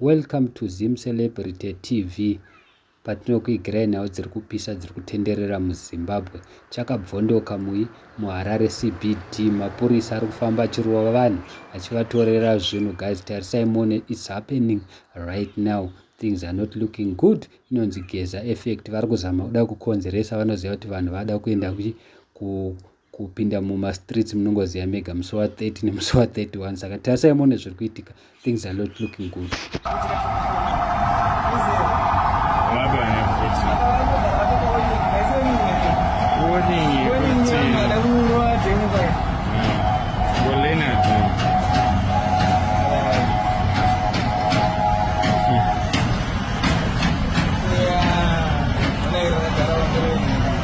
Welcome to Zim Celebrity TV patinokuigirai nhau dziri kupisa dziri kutenderera muzimbabwe chakabvondoka mui muharare cbd mapurisa ari kufamba achirova vanhu achivatorera zvinhu guys tarisai mone its happening right now things are not looking good inonzi geza effect vari kuzama kuda kukonzeresa vanoziva kuti vanhu vada kuenda kupinda mumastreets munongoziva mega musi wa 30 nemusi wa 31 saka tarisai mone zviri kuitika things are not looking good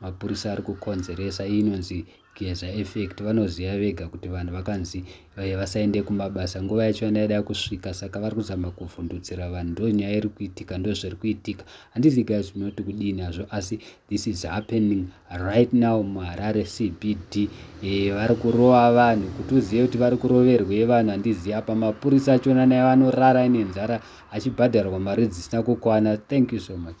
Mapurisa ari kukonzeresa iyi inonzi geza effect vanoziva vega kuti vanhu vakanzi eh, vasaende kumabasa nguva yacho yanga yada kusvika saka vari kuzama kuvhundutsira vanhu ndo nyaya iri kuitika ndo zviri kuitika handizi guys munoti kudini hazvo asi this is happening right now muharare cbd eh, vari kurova vanhu kuti uzive kuti vari kuroverwei vanhu handizivi apa mapurisa achona naye vanorara ine nzara achibhadharwa mari dzisina kukwana thank you so much